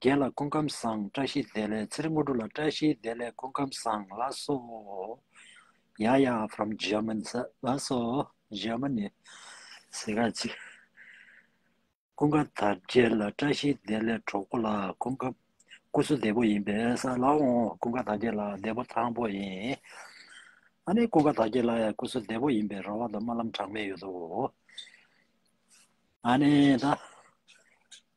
བརྒྱད་ལ་ཀུན་ཁམས་བཟང་བཀྲ་ཤིས་བདེ་ལེགས་ཚེ་རིང་དངོས་གྲུབ་ལ་བཀྲ་ཤིས་བདེ་ལེགས་ཀུན་ཁམས་བཟང་ལགས་སོ། ཡཱ་ཡཱ from German ས་ལགས་སོ། Germany ཟེར་ག་ཅིག། ཀུན་དགའ་དར་རྒྱས་ལ་བཀྲ་ཤིས་བདེ་ལེགས་གྲོགས་པོ་ལགས་ཀུན་དགའ། སྐུ་གཟུགས་བདེ་པོ་ཡིན་པས་ས་ལགས་འོང་ཀུན་དགའ་དར་རྒྱས་ལགས་བདེ་པོ་ཐང་པོ་ཡིན། ཨ་ནི་ཀུན་དགའ་དར་རྒྱས་ལགས་ཡང་སྐུ་གཟུགས་བདེ་པོ་ཡིན་པས་ར་བ་དང་རྨ་ལམ་གྲངས་མེད་ཡོད་དོ། ཨ་ནི་ད།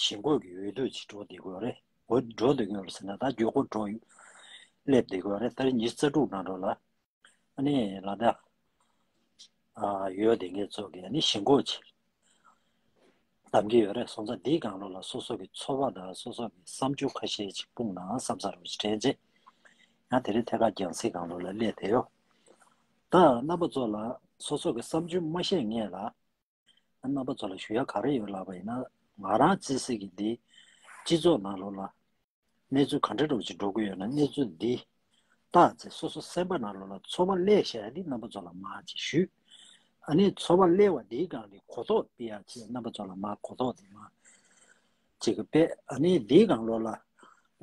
ཞིང་བཀོད་ཀྱི་འོས་བསྡུ་ཅི་འགྲོ་བདེ་འགོད་རེད་འོས་བསྡུ་འགྲོ་འདོད་ཡོད་པ་ཟེར་ན་ད་རྒྱུ་སྐོར་འགྲོ་ཡོད་སླེབས་བདེ་འགོད་རེད་ད་རེ་ཉིན་རྩ་དྲུག་ནང་འགྲོ་ལ་ཨ་ནི་ལ་ད་ཡོད་དེ་འགའི་ཚོགས་ཀྱི་ཨ་ནི་ཞིང་བཀོད་ཅི་གདམ་གྱི་ཡོད་རེད་སོང་ཙང་འདིའི་སྒང་ལོ་ལ་སོ་སོ་གི་ཚོར་བ་དང་སོ་སོ་གི་བསམ་ཚུལ་ཁ་ཤས་ཅིག་སྤུངས་ནའང་བསམ་ཚར་རོ་ཅིག་དྲན་རྗེས་ཡང་དེ་རེ་ཐད་ཀར་རྒྱང་སྲིང་སྒང་ལོ་ལ་སླེབས་བདེ་ཡོད་ད་རྣམ་པ་ཚོ་ལ་སོ་སོ་གི་བསམ་ཚུལ་མ་བཤད་ངེས་ལ། རྣམ་པ་ཚོ་ལ་ཞུ་ཡ་ག་རེ་ཡོད་ལབ་པ་ཡིན་ན་ང་རང་བརྩེ་སེ་གི་འདི་སྤྱི་ཚོགས་ནང་ལོག་ལ་གནས་ཚུལ་ག་འདྲ་འགྲོ་ཅིག་འགྲོ་གི་ཡོད་ན་གནས་ཚུལ་འདི་བལྟ་ཚེ་སོ་སོ་སེམས་པ་ནང་ལོག་ལ་ཚོ་བ་གླས་ཤ་ཡ་འདི་རྣམ་པ་ཚོ་ལ་མ་ཅིག་ཞུ་ཨ་ནི་ཚོ་བ་གླས་བ་འདིའི་སྒང་གི་གོ་རྟོགས་སྤི་ཡ་ཅིག་རྣམ་པ་ཚོ་ལ་མ་གོ་རྟོགས་འདི་མ་ཅིག་སྤེ་ཨ་ནི་འདིའི་སྒང་ལོག་ལ་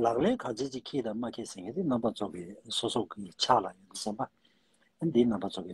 ལག་ལེན་ག་ཅིག་ཅིག་ཁིད་དང་མ་ཁིད་སེ་གི་འདི་རྣམ་པ་ཚོ་གི་སོ་སོ་གི་ཆགས་ལ་ཡོད་འདི་སེམས་པ་འདི་རྣམ་པ་ཚོ་གི་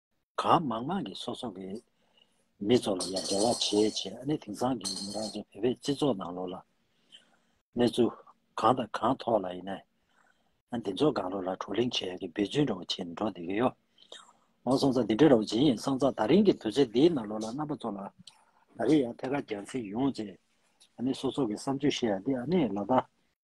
གང་མང་མང་གིས་སོ་སོ་གི་མི་ཚོ་ལ་ཡང་འབྲེལ་བ་བྱེད་བྱེད་ཨ་ནི་དེང་སང་གི་མི་རང་ཚོ་བོད་པའི་སྤྱི་ཚོགས་ནང་ལོག་ལ་གནས་ཚུལ་གང་དང་གང་ཐོག་ལ་ཡིན་ན་འདི་ཚོ་གང་ལོག་ལ་བགྲོ་གླེང་བྱེད་ཀྱི་འབད་བརྩོན་འདྲ་བོ་བྱེད་ནས་འགྲོ་བསྡད་ཀྱི་ཡོད། ཨོ་སང་ཙང་འདི་འདྲ་འདྲ་བོ་བྱེད་ཡིན་སང་ཙང་ད་རིང་གི་དུས་ཚོད་འདིའི་ནང་ལོག་ལ་རྣམ་པ་ཚོ་ལ་ད་རིང་ཡང་ཐད་ཀར་རྒྱང་ཚིགས་ཡོང་བྱེད་ཨ་ནི་སོ་སོ་གི་བསམ་སྤྱོད་བཤད་ཡ་འདི་ཨ་ནི་ལ་དྭགས།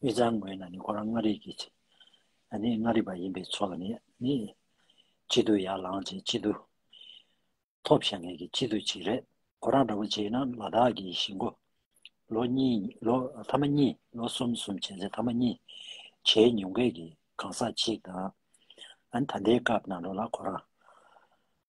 དབུས་གཙང་ངོས་ན་ནི་ཁོ་རང་མངའ་རིས་ཀྱི། ནི་མངའ་རིས་པ་ཡིན་པས་ཚོ་ལ་ནི། གཅིག་ཏུ་ཡར་ལངས་བྱེད་གཅིག་ཏུ། ཐོབ་བྱ་ངེས་ཀྱི་གཅིག་ཏུ་བྱེད་རེད། ཁོ་རང་འདྲ་པོ་བྱེད་ན་ལ་དྭགས་ཀྱི་གཞིས་མགོ། ལོ་གཉིས་ལོ་ཐ་མ་གཉིས་ལོ་གསུམ་གསུམ་བྱས་ཚེ་ཐ་མ་གཉིས། བྱས་ཉུང་སྐད་ཀྱི་གང་ཟག་གཅིག་དང། ད་ལྟའི་སྐབས་ནང་དུ་ལ་ཁོ་རང།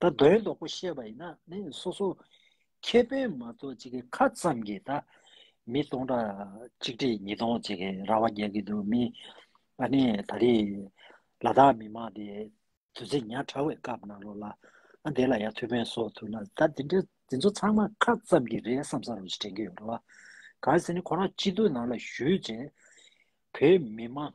ད་དོན་དོག་པོ་བཤད་པ་ཡིན་ན་ནི་སོ་སོ་ཁེ་ཕན་མ་གཏོགས་ཅི་གི་ཁ་ཙམ་གི་ད་མི་སྟོང་ཕྲག་གཅིག་ཁྲི་ཉིས་སྟོང་ཅི་གི་ར་བ་རྒྱག་གི་འདུག་མི་ཨ་ནི་ད་རི་ལ་དྭགས་མི་མང་དེ་དུས་ཚེ་ཉག་ཕྲ་བའི་སྐབས་ནང་ལོགས་ལ་ཨ་དེ་ལ་ཡ་ཐུག་ཕན་སོགས་ཐུག་ན་ད་དེ་འདྲ་དེ་ཚོ་ཚང་མ་ཁ་ཙམ་གི་རེད་བསམ་ས་རུ་དྲན་གི་ཡོད་ར་བ་གང་ཟེར་ནི་ཁོ་རང་སྤྱི་འཐུས་ནང་ལ་བཞུད་རྗེས་བོད་མི་མང།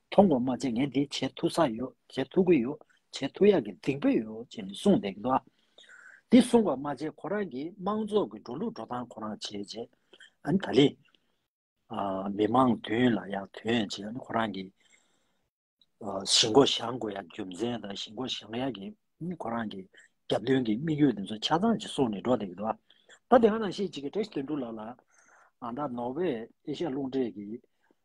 མཐོང་བ་མ་བྱས་ངས་འདི་བྱེད་ཐུག་ས་ཡོད་བྱེད་ཐུག་གི་ཡོད་བྱེད་ཐུག་ཡག་གི་སྡིག་པོ་ཡོད་ཅེས་ནི་གསུངས་བསྡད་ཀྱི་འདུག་འདི་གསུངས་པ་མ་བྱས་ཁོ་རང་གིས་དམངས་ཚོགས་ཀྱི་འགྲོ་ལུགས་འགྲོ་སྟངས་ཁོ་རང་བྱས་རྗེས་ཨ་ད་ལི། མི་དམངས་མདུན་ལ་ཡང་དོན་ཡང་བྱས་ཁོ་རང་གིས་གཞི་མགོ་བཞག་དགོས་ཡག་རྒྱུ་མཚན་དང་གཞི་མགོ་བཞག་ཡག་གི་ཁོ་རང་གི་རྒྱབ་མདུན་གྱི་དམིགས་ཡུལ་དེ་ཚོ་ཆ་ཚང་ཅིག་གསུངས་ནི་འགྲོ་བསྡད་ཀྱི་འདུག་ད་དེ་ག་ནང་བཤད་ཅིག་ཀྱི་བཀྲ་ཤིས་དོན་འགྲུབ་ལགས་ལ་ཨ་ད་ནོར་ཝེ་ཨེ་ཤ་རླུང་འཕྲིན་གྱི་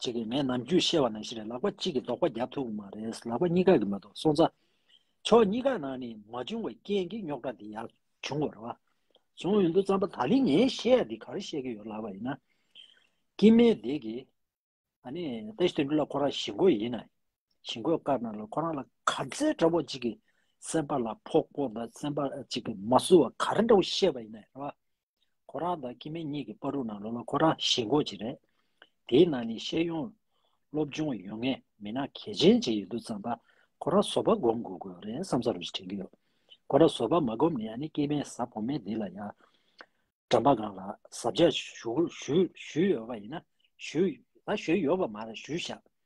བྱེད་ཀྱི་མེད་ནམ་རྒྱུས་བཤད་པ་ནང་བཞིན་རེད་ལག་པ་གཅིག་གིས་ལྡོག་པ་རྒྱག་ཐུབ་མ་རེད་ལག་པ་གཉིས་ཀ་གིས་མ་གཏོགས་སོང་ཚ། ཕྱོགས་གཉིས་ཀ་ནང་ནས་མ་བྱུང་བའི་རྐྱེན་གྱིས་རྙོག་དྲ་འདི་ཡག་བྱུང་བ་རེད་བ། བྱུང་ཡོད་འདུག་རྩམ་པ་ད་ལི་ངས་བཤད་ཡ་འདི་ག་རེ་བཤད་ཀྱི་ཡོད་ལབ་པ་ཡིན་ན། ཀྱི་མེ་འདེགས་ཀྱི། ཨ་ནི་ཏེ་ཞི་དོན་འགྲུབ་ལ་ཁོ་རང་ཞི་རྒོལ་ཡིན་ན། ཞི་རྒོལ་དཀར་ནག་ལ་ཁོ་རང་ལ་ག་ཚད་འདྲ་བོ་གཅིག་གིས་སེམས་པ་ལ་ཕོག་པོ་འདི་སེམས་པ་གཅིག་གིས་མ་བསུ་བ་ག་རེ་འདྲ་བོ་བཤད་པ་ཡིན་ན་རེད་བ། ཁོ་རང་དང་ཁྱིམ་མི་གཉིས་ཀྱི་པར་རུ་ནང་ལོ་ལོ་ཁོ་རང་ཞེ་འགོག་ཅིག་རེད། དེའི་ནང་ནས་ཤེས་ཡོན། སློབ་སྦྱོང་ཡོད་ངེས་མི་སྣ་གལ་ཆེན་ཅིག་ཡོད་འདུག་བསམ་པ། ཁོ་རང་བཟོ་པ་སྒོམ་དགོས་དགོས་རེད་བསམ་ས་རུ་ཞིག་དྲན་གྱི་ཡོད། ཁོ་རང་བཟོ་པ་མ་སྒོམ་ནས་ཨ་ནི་སྐྱེས་དམན་གཟའ་བོ་མེད་འདི་ལ་ཡང། འགྲམ་པ་སྒང་ལ་གཟབ་རྒྱག་ཞུས་ཡོད་པ་ཡིན་ན་ཞུས། ལ་ཞུས་ཡོད་པ་མ་རེད་ཞུས་ཤག།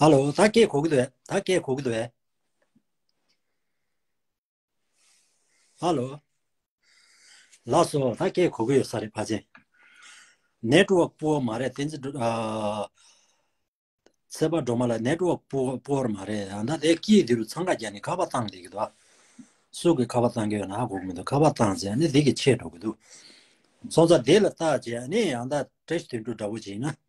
ཧ་ལོ་ད་སྐད་གོ་གི་འདུག་ད་སྐད་གོ་གི་འདུག་ཧ་ལོ་ལགས་སོ་ད་སྐད་གོ་གི་ཡོད་ས་རེད་ཕ་ཆེ network poor མ་རེད་དེ་འཛི་ཨ་ཚེ་པ་འགྲོ་མ་ལ network poor poor མ་རེད་ཡང་ད་དེ་སྐྱིད་དེ་རུ་ཚང་ག་རྒྱ་ནི་ཁ་བ་བཏང་དེ་གི་འདུག་སུ་གི་ཁ་བ་བཏང་གི་ཡོད་ན་ཧ་གོ་གི་མི་འདུག་ཁ་བ་བཏང་ཚེ་ནི་དེ་གི་ཆེད་འགྲོ་གི་འདུག་སོང་ཚ་དེ་ལ་བཏགས་རྗེས་ནི་ཡང་ད་དྲེ་ཞི་དེ་འགྲོ་འདྲ་བོ་བྱེད་ན་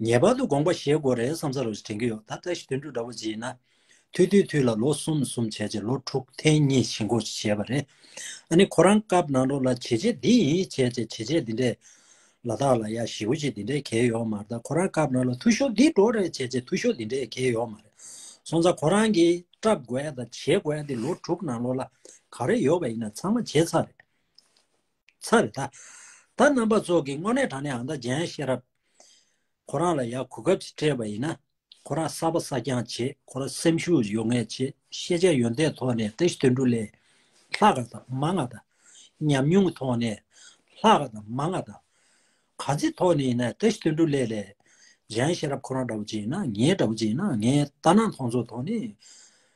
ངེས་པར་དུ་དགོངས་པ་བཞེས་དགོས་རེད་བསམ་ས་རེད་དྲན་གྱི་ཡོད་ད་ལྟ་ཞི་དུལ་འགྲོ་འདྲ་བོ་བྱེད་ན། ཐུལ་དུས་ཐུལ་ལ་ལོ་གསུམ་གསུམ་བྱས་རྗེས་ལོ་དྲུག་ཐེངས་གཉིས་ཞི་འགོ་བྱས་པ་རེད། ཨ་ནི་ཁོ་རང་སྐབས་ནང་རོགས་ལ་བྱེད་རྗེས་འདི་ཡིན་བྱས་རྗེས་བྱེད་རྗེས་འདི་འདྲས། ལ་དྭགས་ལ་ཡ་ཞི་བོ་ཞིག་འདི་འདྲས་གས་ཡོད་མ་རེད་ཁོ་རང་སྐབས་ནང་ལ་ཐུ་ཤོ་འདི་འགྲོ་རེད་བྱས་རྗེས་ཐུ་ཤོ་འདི་འདྲས་གས་ཡོད་མ་རེད། སོང་ཙང་ཁོ་རང་གིས་སྐྲབ་དགོས་དང་བྱེད་དགོས་འདི་ལོ་དྲུག་ནང་ལོ་ལ་ག་རེ་ཡོད་པ་ཡིན་ན་ཚང་མ་བྱས་ཚར་རེད། ཚར་རེ་ད། ད་རྣམ་པ་ཚོགས་ཀྱི་དངོས་གནས་དྲང་གནས་ཨང་རྟགས་རྒྱན་ཤེས་རབ། ཁོ་རང་ལ་ཡག་གོ་སྐབས་ཤིག་སྤྲད་པ་ཡིན་ན། ཁོ་རང་གསར་པ་གསར་རྐྱང་བྱེད་ཁོ་རང་སེམས་ཤུགས་ཡོད་ངེས་བྱེད་ཤེས་བྱ་ཡོན་ཏན་ཐོག་ནས་ཏེ་དོན་དྲུག་ལས། ལྷག་དཀའ་དང་མ་མངའ་དང། ཉམས་མྱོང་གི་ཐོག་ནས་ལྷག་དཀའ་དང་མ་མངའ་དང། གང་ཅིའི་ཐོག་ནས་ཡིན་ན་ཏེ་དོན་དྲུག་ལས་ལས། རྒྱན་ཤེས་རབ་ཁོ་རང་འདྲ་བོ་ཅིག་ཡིན་ན་ངའི་འདྲ་བོ་ཅིག་ཡིན་ན་ངའི་ལྟ་སྣང་མཐོང་ཚོར་ཐོག་ནས།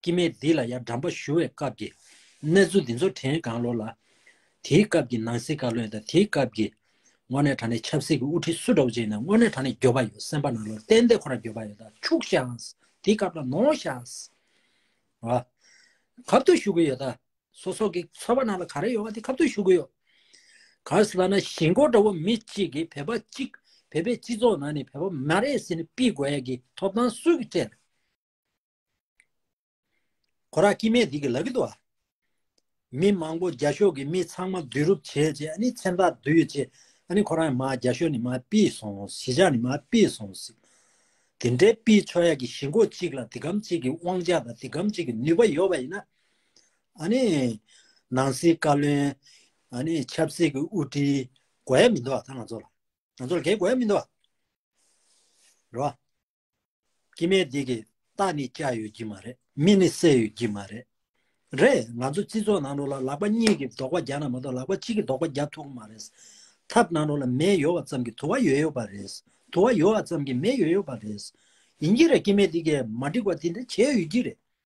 སྐྱེ་མེད་འདི་ལ་ཡང་འགྲམ་པ་བཞུ་བའི་སྐབས་ཀྱི་གནས་ཚུལ་འདི་ཚོ་དྲན་གང་ལོ་ལ། དེའི་སྐབས་ཀྱི་ནང་སྲིད་བཀའ་བློན་དང་དེའི་སྐབས་ཀྱི་དངོས་གནས་དྲ་གནས་ཆབ་སྲིད་ཀྱི་དབུ་ཁྲིད་སུ་འདྲ་བོ་ཅིག་ནས་དངོས་གནས་དྲ་གནས་འགྱོད་པ་ཡོད་སེམས་པ་ནང་ལོར་གཏན་བདེ་ཁོ་རང་འགྱོད་པ་ཡོད་ད་ཕྱུག་ཤངས་དེའི་སྐབས་ལ་ནོངས་ཤངས། ཨ། གབ་ཏུ་བཞུགས་གི་ཡོད་ད་སོ་སོ་གི་ཚོ་པ་ནང་ལ་ག་རེ་ཡོད་པ་དེ་གབ་ཏུ་བཞུགས་གི་ཡོད། ག་ཟེ་ད་ན་གཞིས་འགོ་འདྲ་བོ་མི་གཅིག་གིས་བོད་པ་གཅིག་བོད་པའི་སྤྱི་ཚོགས་ནང་ནས་བོད་པ་མ་རེད་ཟེར་ནས་དཔིས་དགོས་ཡ་གི་ཐོབ་ཐང་སུ་གི་སྤྲད། གོ་ར་སྐྱིད་མས་འདི་གི་ལ་གི་ཏོ། མི་མང་པོ་རྒྱ་ཤོག་གི་མི་ཚང་མ་བསྡུས་རུབ་བྱས་རྗེས་ཨ་ནི་མཚན་རྟགས་བསྡུས་རྗེས་ཨ་ནི་ཁོ་རང་ཡང་མ་རྒྱ་ཤོག་ནི་མ་པིས་སོང་ཟིག་ཇག་ནི་མ་པིས་སོང་ཟིག། དེ་འདྲའི་པིས་ཆོག་ཡག་གི་ཞི་འགོ་གཅིག་ལ་འདི་གམ་གཅིག་གི་དབང་ཆ་དང་འདི་གམ་གཅིག་གི་ནུས་པ་ཡོད་པ་ཡིན་ན། ཨ་ནི། ནང་སྲིད་བཀའ་བློན། ཨ་ནི་ཆབ་སྲིད་གི་དབུ་ཁྲིད། དགོས་ཡ་མི་འདུག་ད་ང་ཚོ་ལ། ང་ཚོ་ལ་གས་དགོས་ཡ་མི་འདུག། རེད་བ། ཀྱི་མེད་འདི་གི་རྟགས་ནི་སྐྱ་ཡོད་ཀྱི་མ་རེད་མི་ནི་གསལ་ཡོད་ཀྱི་མ་རེད་རེད་ང་ཚོ་སྤྱི་ཚོགས་ནང་དུ་ལ་ལག་པ་གཉིས་ཀྱིས་རྡོག་པ་རྒྱག་ན་མ་གཏོགས་ལག་པ་གཅིག་གིས་རྡོག་པ་རྒྱག་ཐུབ་ཀྱི་མ་རེད་ཐབས་ནང་དུ་ལ་མེ་ཡོད་བ་ཙམ་གྱིས་དུ་བ་ཡོད་ཡོད་པ་རེད་དུ་བ་ཡོད་བ་ཙམ་གྱིས་མེ་ཡོད་ཡོད་པ་རེད་ཡིན་གྱི་རེད་ཀྱི་མེད་འདི་གི་མ་འགྲིག་པ་འདི་འདྲ་བྱས་ཡོད་ཀྱི་རེད།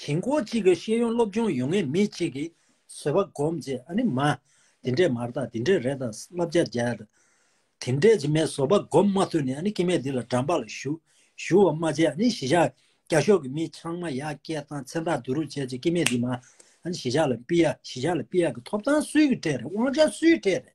ཞིང་སྐོར་གཅིག་གི་ཤེས་ཡོན་སློབ་སྦྱོང་ཡོང་ངེས་མི་གཅིག་གིས་བཟོད་པ་སྒོམ་རྗེས་ཨ་ནི་མ། དེ་འདྲས་མར་དང་དེ་འདྲས་རེད་དང་བསླབ་བྱ་སྦྱར། དེ་འདྲས་རྗེས་མའི་བཟོད་པ་སྒོམ་མ་ཐུབ་ནས་ཨ་ནི་སྐྱེ་མེད་འདི་ལ་འགྲམ་པ་ལ་བཞུགས། བཞུགས་བ་མ་བྱས་ཨ་ནི་གཞི་ཆགས་རྒྱ་ཤོག་གི་མི་ཆང་མ་ཡག་སྐད་བཏང་མཚན་རྟགས་བསྡུ་རུབ་བྱས་རྗེས་སྐྱེ་མེད་འདི་མ། ཨ་ནི་གཞི་ཆགས་ལ་སྤི་ཡག་གཞི་ཆགས་ལ་སྤི་ཡག་གི་ཐོབ་ཐང་སུའི་གི་གྲས་རེད་དབང་ཆ་སུའི་གྲས་རེད།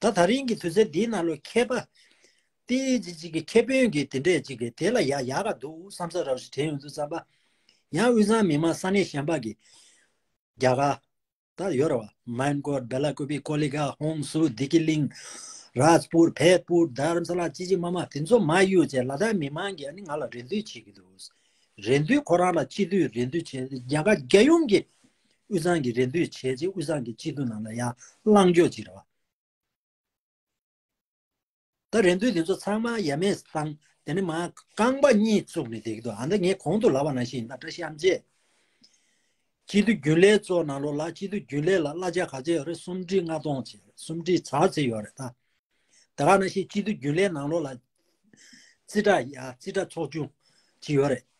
ད་ད་རིང་གི་དུས་ཚོད་འདིའི་ནང་ལོ་མཁས་པ། ཏི་ཇི་གཅིག་གི་ཁྱད་བོན་གྱི་དེ་འདྲས་གཅིག་གི་དེ་ལ་ཡག་ཡག་ག་འདུག་བསམ་ས་རག་ཞིག་དྲན་ཡོང་ཚུལ་བསམ་པ། ཡང་དབུས་གཙང་མི་མང་ས་གནས་གཞན་པ་གི། རྒྱ་གར། ད་ཡོད་ར་བ། མན་གོར། བེ་ལ་ཀོ་བི། ཀོ་ལི་ག། ཧོང་སུ། དི་ཀི་ལིང། རཱཇ་པུར། བྷད་པུར། དྷརམ་ས་ལ། ཅི་ཅི་མ་མ་དེ་ཚོ་མ་གཡུག་བཅས་ལ་དྭགས་མི་མང་གིས་ནི་ང་ལ་རེ་འདུན་བྱེད་ཀྱི་འདུག། རེ་འདུན་ཁོ་རང་ལ་ཅི་དུས་རེ་འདུན་བྱེད། རྒྱ་གར་རྒྱལ་ཡོངས་ཀྱི། དབུས་གཙང་གི་རེ་འདོད་བྱས་རྗེས་དབུས་གཙང་གི་སྤྱི་འཐུས་རྣམས་ལ་ཡང་བླངས་འཇོག་བྱེད་རོགས། ད་རེ་འདོད་དེ་ཚོ་ཚང་མ་ཡ་མེད་བཟང། དེ་ནི་མ་རྐང་པ་གཉིས་བཙུགས་ནས་བསྡད་ཀྱི་འདུག་ཨ་མདའ་ངས་གོང་དུ་ལབ་པ་ནང་བཞིན་ཡིན་ན་བཀྲ་ཤིས་ཨམ་ཅེས། སྤྱི་འཐུས་རྒྱུན་ལས་གཙོ་གནང་ལོ་ལ་སྤྱི་འཐུས་རྒྱུན་ལས་ལ་གླ་ཆ་ག་ཚད་ཡོད་རེད་སུམ་སྒྲིལ་ལྔ་སྟོང་ཆེ་རེད་སུམ་སྒྲིལ་བྱ་ཚད་ཡོད་རེད་ད། ད་ག་ནང་བཞིན་སྤྱི་འཐུས་རྒྱུན་ལས་གནང་ལོ་ལ་རྩིས་ཁྲ་ཡ་རྩིས་ཁྲ་ཚོགས་ཆུང་གཅིག་ཡོད་རེད།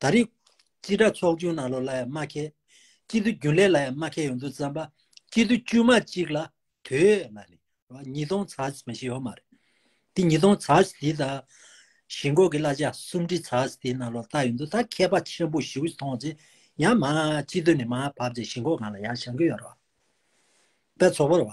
ད་རེས། སྤྱི་དྲག་ཚོགས་ཆུང་ནང་ལོགས་ལ་ཡང་མ་ཁེལ། སྤྱི་འཐུས་རྒྱུན་ལས་ལ་ཡང་མ་ཁེལ་ཡོང་འདུག་བརྩམས་པ། སྤྱི་འཐུས་དཀྱུས་མ་གཅིག་ལ་དོས་ལ་ནི། ཉིས་སྟོང་ཚར་མ་ཞིག་ཡོད་མ་རེད། དེ་ཉིས་སྟོང་ཚར་དེ་དང། གཞིས་འགོ་གི་གླ་ཆ་སུམ་ཁྲི་ཚར་དེ་ནང་ལོགས་ལྟ་ཡོང་འདུག་ད་མཁས་པ་ཆེན་པོ་ཞིག་མཐོང་ཚེ། ཡང་མ་སྤྱི་འཐུས་ནས་མ་བབས་ཚེ་གཞིས་འགོ་གང་ལ་ཡང་བཞག་གི་ཡོད་རེད་བ། དཔེ་ཚོགས་པར་བ།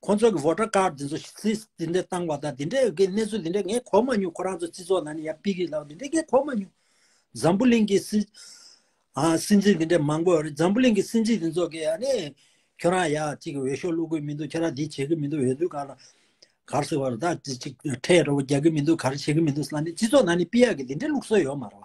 ཁོང་ཚོ་གི voter card དེ་ཚོ་ཚིས་དེ་འདྲ་བཏང་བ་དང་དེ་འདྲ་གི་གནས་ཚུལ་དེ་འདྲ་ངས་གོ་མ་མྱོང་ཁོ་རང་ཚོ་སྤྱི་ཚོགས་ནང་ནས་ཡར་སྤེལ་གི་ལགས་དེ་འདྲ་ངས་གོ་མ་མྱོང། འཛམ་བུ་གླིང་གི་སྲིད། ཨ་སྲིད་འཛིན་དེ་འདྲ་མང་པོ་རེད་འཛམ་བུ་གླིང་གི་སྲིད་འཛིན་དེ་ཚོ་གི་ཨ་ནི། ཁྱོད་རང་ཡར་ཅིག་འོས་ཤོག་བླུག་གི་མི་འདུག་ཁྱོད་རང་འདི་བྱེད་གི་མི་འདུག་འོས་བསྡུ་ག་ལ། གར་སོ་བར་ད་ཅིག་ཁྲལ་རོགས་རྒྱག་གི་མི་འདུག་གར་བྱེད་གི་མི་འདུག་ས་ནི་སྤྱི་ཚོགས་ནང་ནས་སྤེལ་ཡག་གི་དེ་འདྲ་བླུག་སྲོལ་ཡོད་མ་རེད།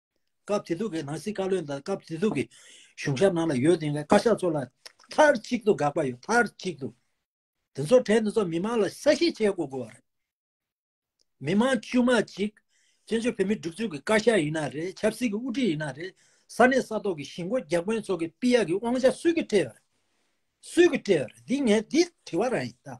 སྐབས་དེ་དུས་ཀྱི་ནང་སྲིད་བཀའ་བློན་དང་སྐབས་དེ་དུས་ཀྱི་གཞུང་ཞབས་ནང་ལ་ཡོད་བསྡད་མཁན་བཀའ་ཤག་ཚོ་ལ་མཐར་གཅིག་ཏུ་དགག་པ་ཡོད་མཐར་གཅིག་ཏུ། དེ་ཚོ་གྲས་འདི་ཚོ་མི་མང་ལ་གསལ་བཤད་བྱེད་དགོས་དགོས་པ་རེད། མི་མང་དཀྱུས་མ་གཅིག་བཙན་བྱོལ་བོད་མིའི་སྒྲིག་འཛུགས་ཀྱི་བཀའ་ཤག་ཡིན་ན་རེད་ཆབ་སྲིད་ཀྱི་དབུ་ཁྲིད་ཡིན་ན་རེད་ས་གནས་ས་ཐོག་གི་གཞིས་མགོ་རྒྱག་མཁན་ཚོ་གི་པི་ཡ་གི་དབང་ཆ་སུས་ཀྱིས་སྤྲད་པ་རེད། སུས་ཀྱིས་སྤྲད་པ་རེད་འདི་ངས་འདི་དྲི་བ་རང་ཡིན་ད།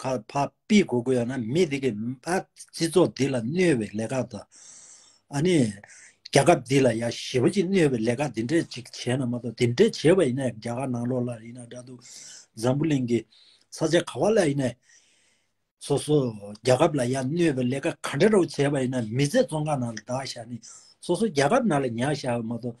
ཁ་བ་པི་གོ་གོ་ཡོད་ན་མི་དེ་གི་ཨ་སྤྱི་ཚོགས་འདི་ལ་གནོད་བའི་ལས་ཀ་དང། ཨ་ནི་རྒྱ་ཁབ་འདི་ལ་ཡ་ཞི་བ་ཅིག་གནོད་བའི་ལས་ཀ་འདི་འདྲས་ཅིག་བྱས་ན་མ་གཏོགས་འདི་འདྲས་བྱས་པ་ཡིན་ན་རྒྱ་གར་ནང་ལོག་ལ་ཡིན་ན་འདྲ་འདུག་འཛམ་བུ་གླིང་གི་ས་ཆ་ག་བ་ལ་ཡིན་ནས་སོ་སོ་རྒྱ་ཁབ་ལ་ཡ་གནོད་བའི་ལས་ཀ་ག་འདྲ་རོག་བྱས་པ་ཡིན་ན་མི་ཚེ་ཙོང་ཁ་ནང་ལ་འདག་བཞག་ནི་སོ་སོ་རྒྱ་ཁབ་ནང་ལ་ཉག་བཞག་པ་མ་གཏོགས་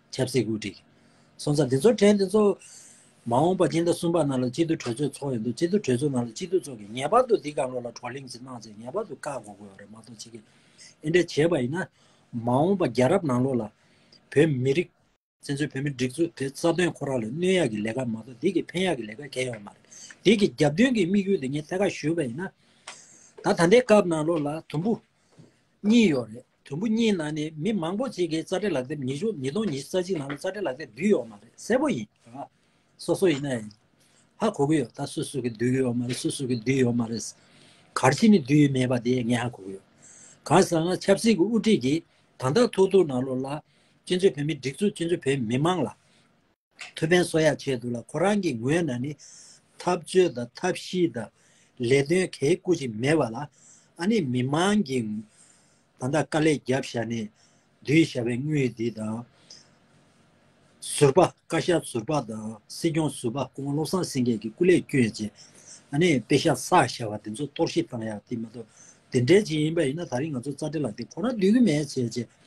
ཆབ་སྲིད་བཀོད་སྒྲིག། སོང་ཙང་འདི་ཚོར་ཕྲན་འདི་ཚོ། མ་འོངས་པ་སྤྱི་ཟླ་གསུམ་པ་ནང་ལ་སྤྱི་འཐུས་གྲོས་ཚོགས་འཚོགས་ཡོད་འདུག་སྤྱི་འཐུས་གྲོས་ཚོགས་ནང་ལ་སྤྱི་འཐུས་ཚོགས་ཀྱིས་ངེས་པར་དུ་འདི་ག་ལོ་ལ་བགྲོ་གླེང་ཞིག་གནང་ཚེ་ངེས་པར་དུ་བཀག་འགོག་དགོས་པ་རེད་མ་གཏོགས་ཕྱི་གིས་དེ་འདྲ་བྱས་པ་ཡིན་ན། མ་འོངས་པ་རྒྱལ་རབས་ནང་ལོགས་ལ། བོད་མི་རིགས། བཙན་བྱོལ་བོད་མིའི་སྒྲིག་འཛུགས་དེ་རྩ་དོན་ཁོ་རང་ལ་གནོད་ཡག་གི་ལས་ཀ་མ་གཏོགས་འདི་གིས་ཕན་ཡག་གི་ལས་ཀ་གལ་ཡོང་གི་མ་རེད། འདི་གིས་རྒྱབ་མདུན་གྱི་དམིགས་ཡུལ་དེ་ངས་ཐད་ཀར་ཞུས་པ་ཡིན་ན། ད་ད་ལྟའི་སྐབས་ནང་ལོགས་ལ་དུམ་བུ། གཉིས་ཡོད་རེད། དུམ་བུ་གཉིས་ནང་ནས་མི་མང་པོ་གཅིག་གིས་རྩ་འབྲེལ་ལག་དེབ་ཉི་ཤུ་ཉིས་སྟོང་ཉི་ཤུ་རྩ་གཅིག་ནང་ལ་རྩ་འབྲེལ་ལག་དེབ་བསྡུས་ཡོད་མ་རེད་གསལ་པོ་ཡིན། སོ་སོ་ཡིན་ན་ཡང་ཧ་གོ་གི་ཡོད་ད་སུ་སུ་གིས་བསྡུས་ཀྱི་ཡོད་མ་རེད་སུ་སུ་གིས་བསྡུས་ཡོད་མ་རེད། གར་ཕྱིན་ནས་བསྡུས་ཡོད་མེད་པ་དེ་ངས་ཧ་གོ་གི་ཡོད། གང་ཟག་ང་ཆབ་སྲིད་ཀྱི་དབུ་ཁྲིད་ཀྱིས་དང་ཐག་ཐུག་ཐུག་ནང་ལོགས་ལ། སྤྱི་མཚོས་བོད་མི་སྒྲིག་འཛུགས་སྤྱི་མཚོས་བོད་མི་མང་ལ། ཐུ་བྷན་སོ་ཡ་ཆེད་དུ་ལ་ཁོ་རང་གི་ངོས་ན་ནི་འཐབ་རྩོད་དང་ཐབས་ཤེས་དང་ལས་དོན་གལ་བཀོད་ཅིག་མེད་པ་ལ་ཨ་ནི་མི་མང་གི་ད་ལྟ་དཀའ་ལས་རྒྱབ་བཞག་ནས་བསྡུས་བཞག་པའི་དངུལ་འདི་དང། ཟུར་པ་བཀའ་ཤག་ཟུར་པ་དང་སྲིད་སྐྱོང་ཟུར་པ་ཀོང་བློ་བཟང་སེང་གེ་གི་སྐུ་ལས་བསྐྱོན་རྗེས་ཨ་ནི་དཔེ་ཤག་བསགས་བཞག་པ་འདི་ཚོ་གཏོར་བཤིག་བཏང་ཡག་དེ་མ་གཏོགས་དེ་འདྲའི་ཅིག་ཡིན་པ་ཡིན་ན་ད་རིང་ང་ཚོ་རྩ་འགྲེལ་ལ་དེ་ཁོ་ན་ལྡུད་གི་མེད་བྱས་རྗེས་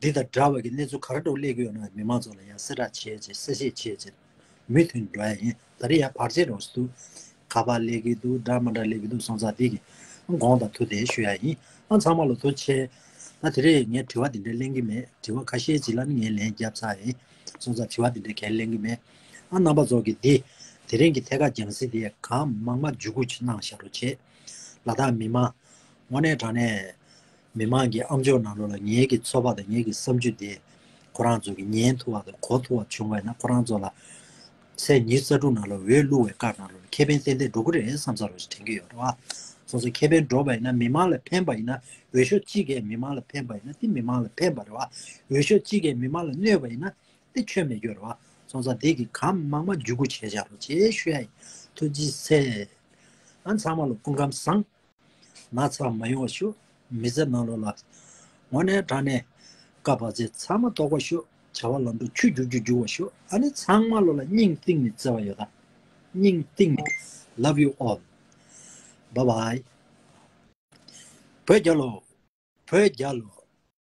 འདི་དང་འདྲ་བ་གི་གནས་ཚུལ་ག་རེ་འགྲོ་གླེགས་ཡོད་ན་མི་མང་ཚོ་ལ་ཡང་གསལ་བསྒྲགས་བྱེད་ཅེས་གསལ་བཤད་བྱེད་ཅེས་མུས་མཐུན་འགྲོ་ཡ་ཡིན་ད་རེས་ཡང་བར་ཆད་རོགས་སུ་འདུག་ག་པར་གླེགས་ཀྱི་འདུག་འདྲ་མ་འདྲ་གླེགས་ཀྱི་འདུག་སོང་ཙང་འདི་གི་དགོངས་དང་ཐུགས་གཏད་ཞུ་ཡ་ཡིན་ཨ་ཚང་མ་ལོ་ཐུགས་ཆེ། ད་དེ་རེས་ངས་དྲི་བ་འདི་འདྲའི་གླེང་གི་མེད་དྲི་བ་ཁ་ཤས་ཇི་ལ་ནི་ངས་ལན་རྒྱབ་ཚར་ཡིན་སོང་ཙང་དྲི་བ་འདི་འདྲའི་གལ་གླེང་གི་མེད་ཨ་རྣམ་པ་ཚོ་གི་འདི་དེ་རིང་གི་ཐད་ཀ་རྒྱང་སྲིད་དེ་གང་མང་མ་འཇུག་གུ་ཆེ་གནང་ཤག་རོགས་བྱེད་ལ་དྭགས་མི་མང་ངོ་ནས་དྲང་ནས། མི་མང་གི་ཨམ་ཅོག་ནང་ལོག་ལ་ངེད་ཀྱི་ཚོགས་པ་དང་ངེད་ཀྱི་བསམ་ཇུས་དེས་ཁོ་རང་ཚོ་གི་ཉན་ཐུབ་བ་དང་གོ་ཐུབ་བ་བྱུང་བས་ན་ཁོ་རང་ཚོ་ལ་ཚེས་ཉེར་གསར་དྲུག་ནང་ལོག་འོས་བླུག་བའི་སྐབས་ནང་ལོག་ལ་ཁེ་ཕན་ཏན་ཏན་འགྲོ་གི་རེད་བསམ་ས་རོགས་ཞེས་དྲན་གྱི་ཡོད་རེད་བ། སོ་སོའི་ཁེ་ཕན་འགྲོ་བ་ཡིན་ན་མི་མང་ལ་ཕན་པ་ཡིན་ན་འོས་ཤོག་གཅིག་གས་མི་མང་ལ་ཕན་པ་ཡིན་ན་དེ་མི་མང་ལ་ཕན་པ་རེད་བ། འོས་ཤོག་གཅིག་གས་མི་མང་ལ་གནོད་པ་ཡིན་ན་དེ་ཁྱོན་མེད་རྒྱུ་རེད་བ། སོང་ཙང་དེ་གི་གམ་དམག་མ་འཇུག་གུ་བྱས་བཞག་རོགས་ཅེས་ཞུ་ཡ་ཡིན། ཐུགས་རྗེ་ཆེ། ཨ་མཚང་མ་ལོག་སྐུ་ཁམས་བཟང། ན་ཚ་མ་ཡོང་བ་ཞུ། མི་བཟད་ནང་ལོག་ལ། ངོ་ནས་དྲག་ནས། བཀའ་བབས་ཚེ་ཚང་མ་རྟོགས་པ་ཞུ། བྱ་བ་ལམ་འགྲོ་ཆུ་རྒྱུག་རྒྱུ་རྒྱུག་བ་ཞུ། ཨ་ནི་ཚང་མ་ལོག་ལ་སྙིང་གཏིང་ནས་བརྩེ་བ་ཡོད་ད། སྙིང་གཏིང་ནས། Love you all Bye bye བོད་རྒྱ་ལོ། བོད་རྒྱ་ལོ།